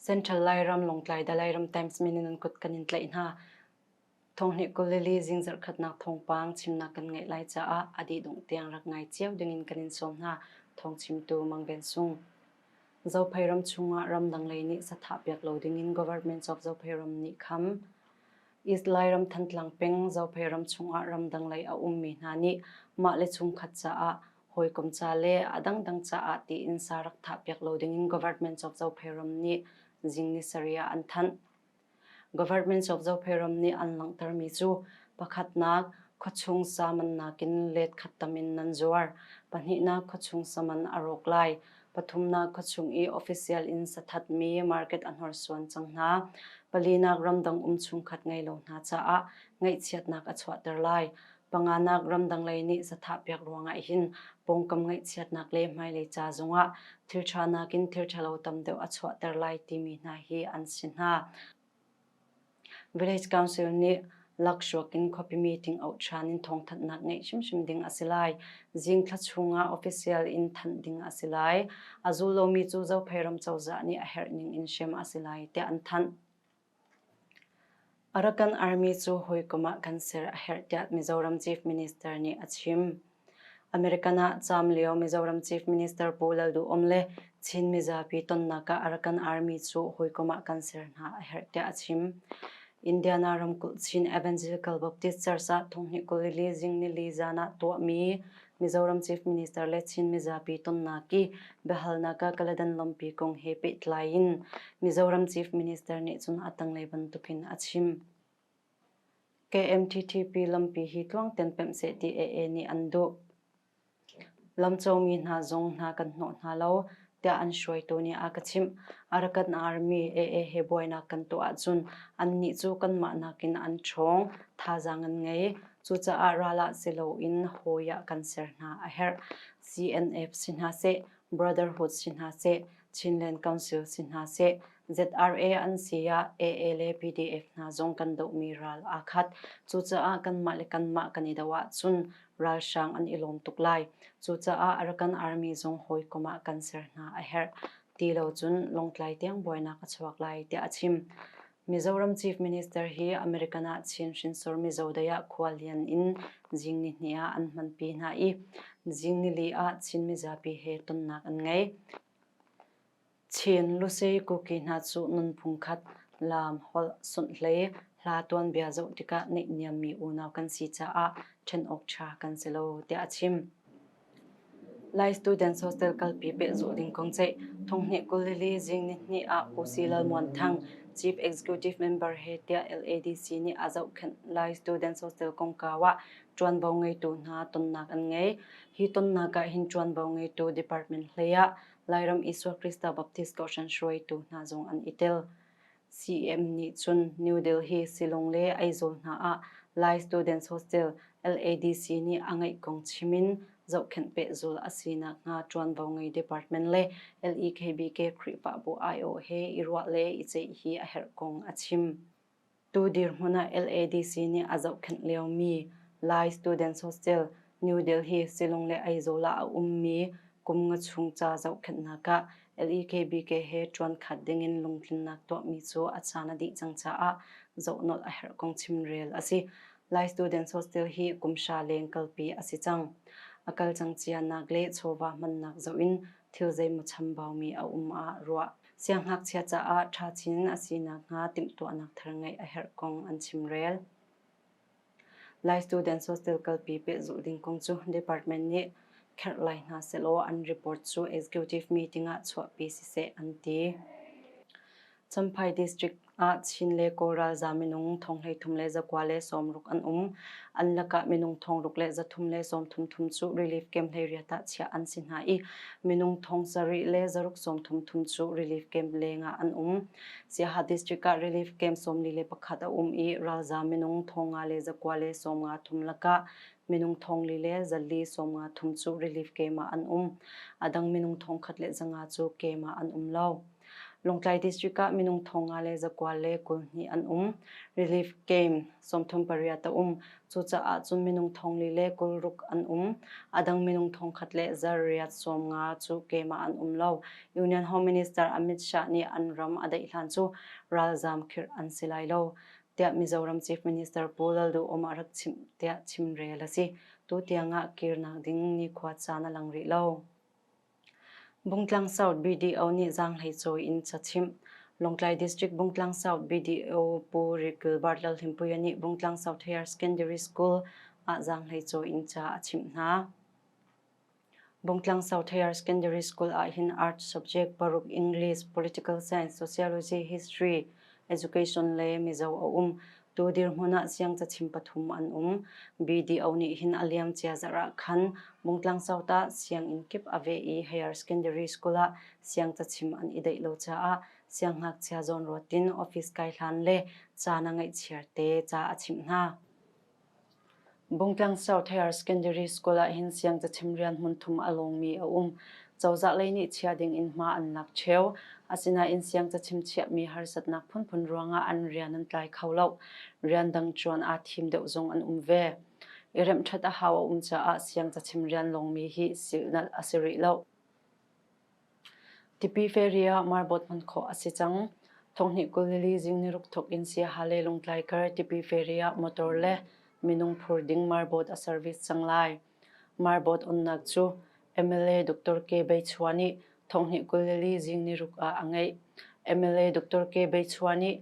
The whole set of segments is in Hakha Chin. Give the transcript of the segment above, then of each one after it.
Central Lairam, Lawngtlai, Dalairam Times min in an kut kan in tlaih hna. Thonghni kulili zing zarkhatnak thongpang chimnak kan ngeih lai caah a dih dungh tiang rak ngai cio dingin kan in sawm hna. Thong chimtu Mang Ben Sung. Zophei ram chungah ramdang lei nih sathahpiak lo dingin Government of Zophei ram nih kham. East Lairam Thantlang peng Zophei ram chungah ramdang lei a ummi hna nih mah le chungkhat caah hawikom ca le a dangdang caah tiin sa rak thahpiak lo dingin Government of Zophei ram nih zing ni sarih ah an thanh. Government of Zopheiram nih an langhtermi cu pakhatnak khuachung samannak in letkhat tam in nan zuar, pahnihnak khuachung saman a rawk lai, pathumnak khuachung i official in sathatmi market a hnorsuan cang hna, palinak ramdang um chungkhat ngei lo hna caah ngaihchiatnak a chuahter lai. Panganak ramdang lei nih zathahpiak ruangah hin pawngkam ngaihchiatnak le hmailei ca zongah thilṭha nakin thilṭhalo tam deuh a chuahter lai timi hna hi an si hna. Village Council nih Lakshawk in khuapi meeting auh ṭhan in thawngthanhnak ngeih hrimhrim ding a si lai. Zing thla chungah official in thanh ding a si lai. A zul lomi cu Zophei ram cozah nih a herh ning in hrem a si lai tiah an thanh. Arakan Army cu hawikom ah kan ser a herh tiah Mizoram Chief Minister nih a chim. American ah caam lio Mizoram Chief Minister Pu Lalduhom le Chin mizapi tonnak ah Arakan Army cu hawikom ah kan ser hna a herh tiah a chim. Indiana ramkulh Chin Evangelical Baptist Church ah thonghnih kul li zing nili zaan ah tuahmi Mizoram Chief Minister le Chin mizapi tonnak i biahalnak ah Kaladan lawmpi kong he pehtlai in Mizoram Chief Minister nih cun a tanglei bantukin a chim. KMTTP lampi hi tluangten pemh seh ti AA nih an duh. Lamcawmi hna zong hna kan hnawh hna lo, tiah an hruaitu nih a ka chimh. Arakan Army AA he buainak kan tuah ahcun annih cu kanmah nakin an ṭhawng, thazaang an ngei. Cucaah ral ah si loin hawi ah kan ser hna a herh. CNF si hna seh, Brotherhood si hna seh, Chinland Council si hna seh, ZRA an si ah AA le PDF hna zong kan dohmi ral aa khat. Cucaah kanmah le kanmah kan i doh ahcun ralhrang an i lawm tuk lai. Cucaah a rakan army zong hawikom ah kan ser hna a herh ti lo cun Lawngtlai tiang buainak a chuak lai tiah a chim. Mizoram Chief Minister hi American ah Chin hrinsor Mizo dei ah khualian in zingni hnih ah an hmanpi hna i zingni li ah Chin mizapi he tonnak an ngei. Chin lusei kuki hna cu nunphung khat, laam, holh, sunh le hla tuanbia zoh tikah neihniammi unau kan si caah ṭhen awk ṭha kan si lo tiah a chim. Lai Students Hostel kalpi pehzulh ding kong ceih Thonghni kulili zing nihni ah Usi Lalmuanthang, Chief Executive Member he tiah LADC nih a zohkhenh Lai Students Hostel kongkau ah ṭuanvo ngeitu hna tonnak an ngei. Hi tonnak ah hin ṭuanvo ngeitu department hlei ah Lairam Isua Krista Baptist Kohhran hruaitu hna zong an i tel. CEM nih cun New Delhi, Shillong le Aizawl hna ah Lai Students Hostel, LADC, nih a ngeih kong chim in zohkhenh pehzul a si nakhnga ṭuanvo ngei department le LEKBK Khrihfabu aiawh he i ruah le i ceih hi a herh kong a chim. Tu dirhmun ah LADC nih a zohkhenh liomi Lai Students Hostel, New Delhi, Shillong le Aizawl ah a ummi kum nga chung ca zohkhenhnak ah LEKBK he ṭuan khat dingin lungtlinnak tuahmi cu a caan a dih cang caah zohnawh a herh kong chimrel a si. Lai Students Hostel hi kum hra leng kalpi a si cang. A kal cang cianak le chawva hmannak zoh in thil zeimaw chambaumi a um ah ruah. Siangngakchia caah ṭha chin a si nakhnga timhtuahnak thar ngeih a herh kong an chimrel. Lai Students Hostel kalpi pehzulh ding kong cu department nih kherh lai hna sehlaw an report cu executive meeting ah chuahpi siseh an ti. Champhai District ah Chin le Kawl ralzam minung thong hleithum le zakua le sawmruk an um. An lakah minung thong ruk le zathum le sawmthum thum cu relief camp hlei riat ah chiah an si hna i minung thong sarih le zaruk sawmthum thum cu relief camp leng ah an um. Siaha district ah relief camp sawmli le pakhat a um i ralzam minung thong nga le zakua le sawmnga thum lakah minung thong li le zalli sawmnga thum cu relief camp ah an um. A dang minung thong khat le zanga cu camp ah an um lo. Lawngtlai district ah minung thong nga le zakua le kul hnih an um. Relief Camp sawmthum pariat a um. Cucaah cun minung thong li le kul ruk an um. A dang minung thong khat le zar riat sawm nga cu keimah an um lo. Union Home Minister Amit Shah nih an ram a daih hlan cu ralzam khirh an si lai lo. Tiah Mizoram Chief Minister Pu Lalduhom a rak chim tiah chimrel a si. Tu tiang ah kirnak ding nikhua caan a lang rih lo. Bungtlang South BDO nih zaanghlei cawi in cachimh. Lawngtlai District Bungtlang South BDO Pu Rikil Bartlal Hlimpuia nih Bungtlang South Higher Secondary School ah zaanghlei cawi in ca a chimh hna. Bungtlang South Higher Secondary School ah hin art subject paruk English, Political Science, Sociology, History, Education le Mizo a um. Tu dirhmun ah siangcachim pathum an um. BDO nih hin a liam cia zarh ah khan Mungtlang South ah sianginn kip a veh i higher secondary school ah siangcachim an i deih lo caah siangngakchia zawn ruat in office kai hlan le ca na ngeih chiarte ca a chimh hna. Bungtlang South Higher Secondary School ah hin siangcachim rian hmun thum a lawngmi a um. Cozah lei nih chiah ding in hma an lak cheu. Asinain siangcachim chiahmi harsatnak phunphun ruangah an rian an tlai kho lo. Rian dang ṭuan aa thim deuh zong an um ve. I remh ṭhat a hau a um caah siangcachim rian lawngmi hi silnalh a si rih lo. Tipi feri ah Marbawt hman khawh a si cang. Thonghnih kul lili zing niruk thawk in Siaha le Lungtlai kar tipi feri ah motor le minung phur ding Marbawt a service cang lai. Marbawt onnak cu MLA Dr. K. Bei Chua nih thonghnih kul lili zing niruk ah a ngeih. MLA Dr. K. Bei Chua nih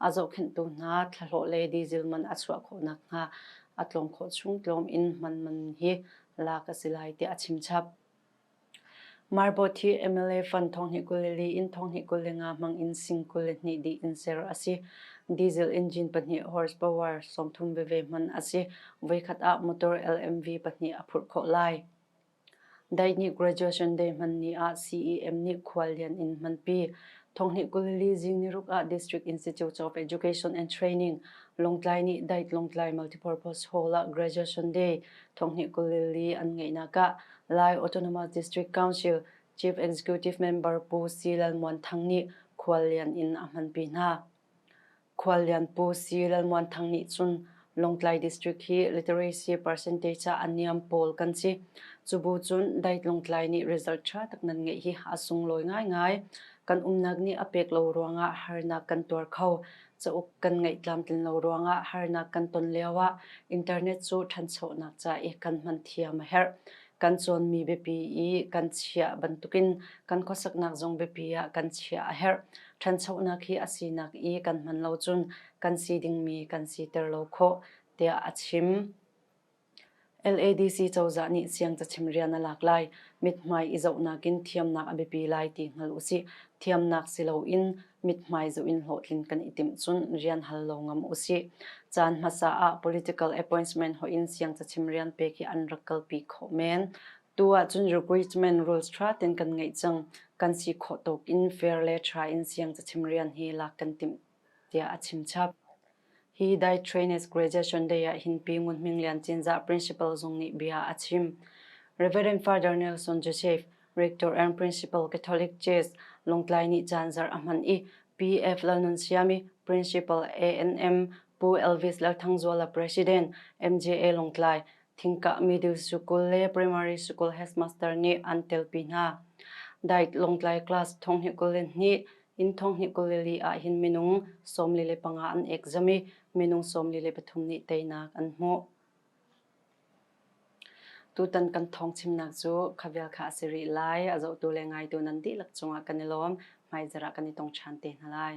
a zohkhenhtu hna thlahlawh le diesel man a chuah khawh nakhnga a tlawng khawh chung tlawm in man man hi lak a si lai tiah a chimchap. Marbot hi MLA fund thonghni kul le li in thonghni kul le nga hmang in sing kul le hnih di in ser a si. Diesel engine pahnih horsepower sawmthum veve hman a si. Voikhat ah motor LMV pahnih a phurh khawh lai. Dai nih graduation day hman ni ah CEM nih khuallian in hmanpi. Thonghnih kul li zing ni ruk ah District Institute of Education and Training Longtlai nih Dait Longtlai Multipurpose Hall ah graduation day thonghnih kul li an ngeihnak ah Lai Autonomous District Council Chief Executive Member Pu C. Lalmuan Thang nih khuallian in a hmanpi hna. Khuallian Pu Si Lalmuanthang nih cun Lawngtlai District hi literacy percentage ah a niam pawl kan si. Cubu cun Dait Lawngtlai nih result ṭha tak nan ngeih hi a sunglawi ngaingai. Kan umnak nih a pek lo ruangah harnak kan tuar kho. Cauk kan ngeih tlamtlin lo ruangah harnak kan ton lioah internet cu ṭhanchonak ca i kan hman thiam a herh. Kan cawnmi biapi i kan chiah bantukin kan khuasaknak zong biapi ah kan chiah a herh. ṭhanchonak hi a sinak i kan hman lo cun kan si dingmi kan siter lo khawh, tiah a chim. LADC cozah nih siangcachim rian a lak lai, mithmai i zohnak in thiamnak a biapi lai ti hngal u sih. Thiamnak si loin mithmai zoh in hlawhtlin kan i timh cun rian hal lo ngam u sih. Caan hmasa ah political appointment hoih in siangcachim rian pek hi an rak kalpi khawh men. Tu ahcun recruitment rules ṭha tein kan ngeih cang. Kan si khawh tuk in fair le ṭha in siangcachim rian hi lak kan timh, tiah a chimchap. Hi Dai Trainers Graduation Day ah hin Pi Ngun Hming Lian Cinzah Principal zong nih bia a chim. Reverend Father Nelson Joseph, Rector and Principal Catholic Church, Lungtlai nih caan zarh a hman i PF Lalnunsiami, Principal ANM, Pu Elvis Lalthangzuala, President, MJA Lungtlai, Thingkah middle school le primary school headmaster nih an telpi hna. Dait Lawngtlai class thong hi kul le hnih, inn thong hi kul le li ah hin minung sawmli le panga an ekzam i minung sawmli le pathum nih teinak an hmuh. Tutan kan thong chimnak cu khavial kha a si rih lai. A zohtu le ngaitu nan dihlak cungah kan i lawm. Hmai zarah kan i tong ṭhan te hna lai.